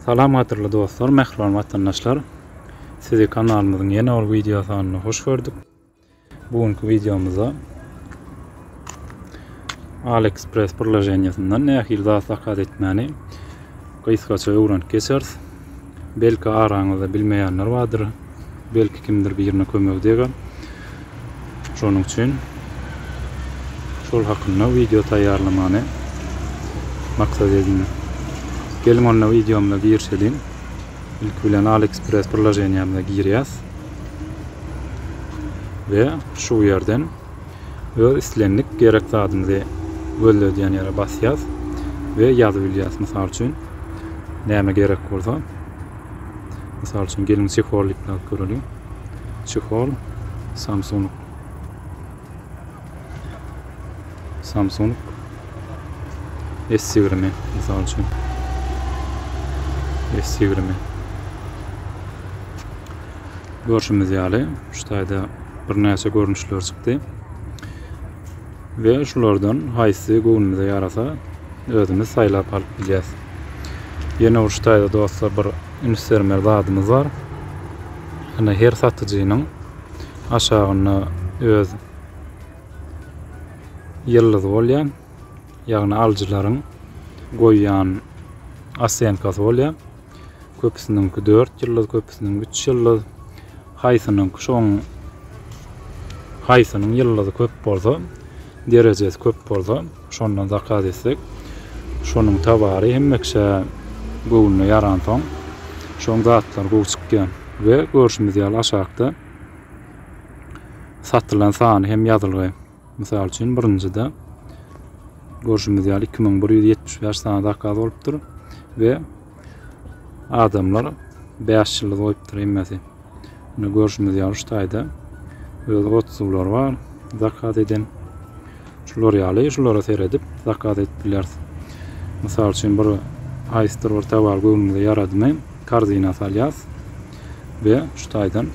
Salam gadyrly dostlar, mähriban watandaşlar. Sizi kanalymyzyň ýene bir wideo sanyna hoş gördük. Bu günki wideomyzda AliExpress birleşenýesinden nähili zat zakaz etmäni gysgaça öwrenip geçeris. Belki araňyzda bilmeýänler bardyr. Belki kimdir birine kömegi deger. Şonuň üçin şol hakynda wideo taýýarlamany maksat edindim. Geliň onda wideomyza girişeliň. Ilki bilen AliExpress priloženiýamyza girýäs. We şu ýerden öz islendik gerek zadymyzy gözledýän ýere basýas we ýazyp bilýäs. Mysal üçin, näme gerek bolsa, mysal üçin, geliň çehol diýip ýazyp göreliň. Çehol Samsung Samsung S20 mysal üçin. S20 Görşümiz ýaly, şu taýda birnäçe görnüşler çykdy. Ve şulardan haýsy göwnümize ýarasa, özümiz saýlap alyp bilýäs. Ýene bir şu taýda dostlar bir üns bermeli zadymyz bar. Ýöne her satyjynyň aşagynda öz ýyldyzy bolýar. Ýagny alyjylaryň goýýan osenkasy bolýar. Köpüsiniňki dört ýyldyz, köpüsiniňki üç ýyldyz. Haýsynyňky şoň haýsynyň ýyldyzy köp bolsa, derejesi köp bolsa, şondan zakaz etsek, şonuň towary hemme kişä göwnüne ýaransoň, şoň zatlary gowy çykýar we görşümiz ýaly aşakda satylan sany hem ýazylgy. Mysal üçin, birinjide, görşümiz ýaly, iki müň bir ýüz ýetmiş bäş sany zakaz bolupdyr we adamlar bäş ýyldyz goýupdyr hemmesi. Indi görşümiz ýaly, şu taýda öz otuzlar bar zakaz eden. Şular ýaly, şulara seredip zakaz edip bileris. Mysal üçin, bir aýsdyr bir tabal göwnümize ýaradymy, korzinä salýas. we şu taýdan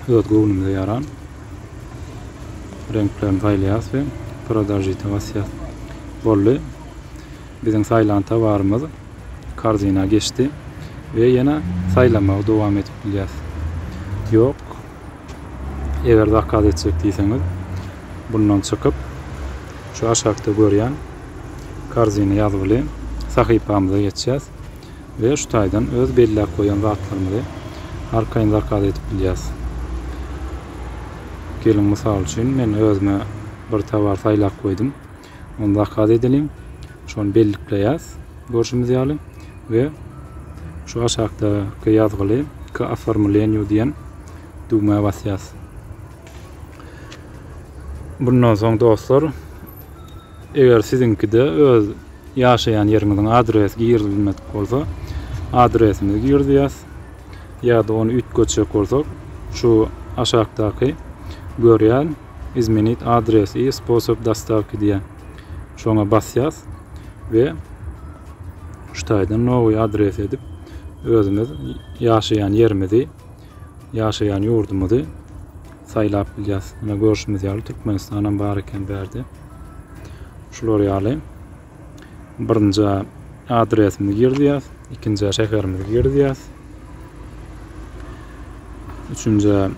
öz göwnümize ýaran reňklerini saýlaýarys we Prodažita basýarys. Boldy. Biziň saýlan towarymyz korzinä geçdi we ýene saýlamagy dowam edip bilýäris. Ýok, eger zakaz etjek diýseňiz, bundan çykyp, şu aşakda görýän korzinä ýazgyly sahypamyza geçýäris. we şu taýdan öz belläp goýan zatlarymyzy arkaýyn zakaz edip bilýäs. Geliň mysal üçin men özüme bir towar saýlap goýdum. Ony zakaz edeliň. Şony bellikleýäs görşümiz ýaly we şu aşakdaky ýazgyly K oformlenýu diýen düwmä basýas. Bundan soň dostlar Eger siziňkide öz ýaşaýan ýeriňiziň adresi girizilmedik bolsa, adresimizi girizýäs ýa-da ony üýtgetjek bolsak, şu aşakdaky görýän Izmenit adres i sposob dostawki diýen şoňa basýas we şu taýdan nowy adres edip özümiz ýaşaýan ýerimizi ýaşaýan ýurdumyzy saýlap bilýäs. Ine görşümiz ýaly Türkmenistanam bar eken bu ýerde. Şular ýaly birinji adresimizi girdýäs, ikinji şäherimizi girdýäs. Üçünji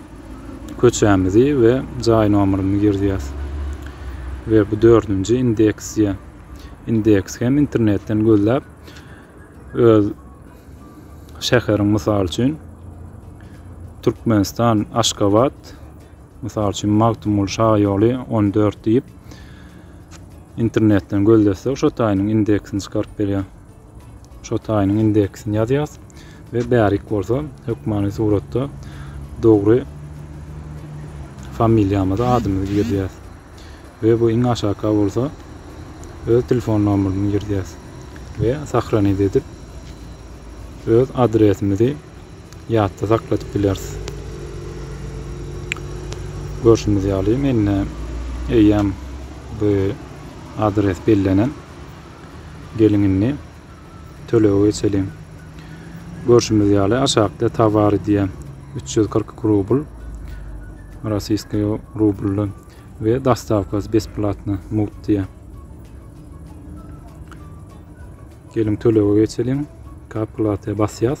köçämizi we jaý nomerimizi girdýäs. Ve bu dördünji indeksiýa. Indeks hem internetden gözläp Öz şäheriň mysal üçin Türkmenistan Aşgabat mysal üçin Magtymguly şaýoly 14 diýip internetden gözlesek şo taýynyň indeksini çykaryp berýär. Şo taýynyň indeksini ýazýas we bärik bolsa hökmany suratda dogry familiýamyzy adymyzy girizýäs. we bu iň aşakka bolsa öz telefon nomerini girdýäs we sahranit edip öz adresimizi ýatda sakladyp bileris. Görşümiz ýaly mende eýýäm bu adres bellenen. Geliň indi Tölege geçeliň. Görşümiz ýaly, aşakda towary diýen üç ýüz kyrk iki rubl, rossiýskiý rublda we dostawkasy besplatny mugt diýen. Geliň tölege geçeliň. Kapklatýa basýas.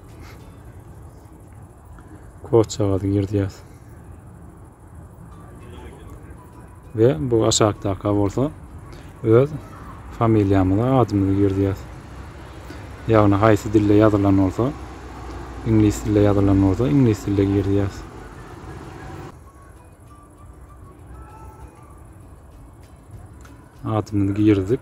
Koçagazy girdýäs. Ve bu aşakdaky bolsa öz familiýamyzy, adymyzy girdýäs. Ýagny haýsy dilde ýazylan bolsa, iňlis dilde ýazylan bolsa, iňlis dilde girdýäs. Adymyzy girdik.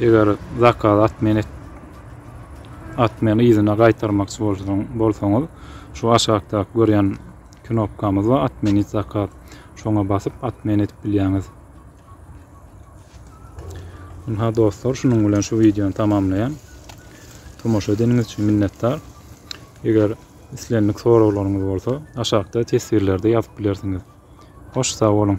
Eger zakaz atmen et atmen yzyna gaýtarmakçy bolsaň bolsaňyz şu aşakdaky görýän knopkamyz bar atmenit zakaz şoňa basyp atmen edip bilýäňiz. Ynha dostlar şunuň bilen şu wideony tamamlaýan. Tomaşa edeniňiz üçin minnetdar. Eger islendik soraglaryňyz bolsa aşakda teswirlerde ýazyp bilersiňiz. Hoş sag boluň.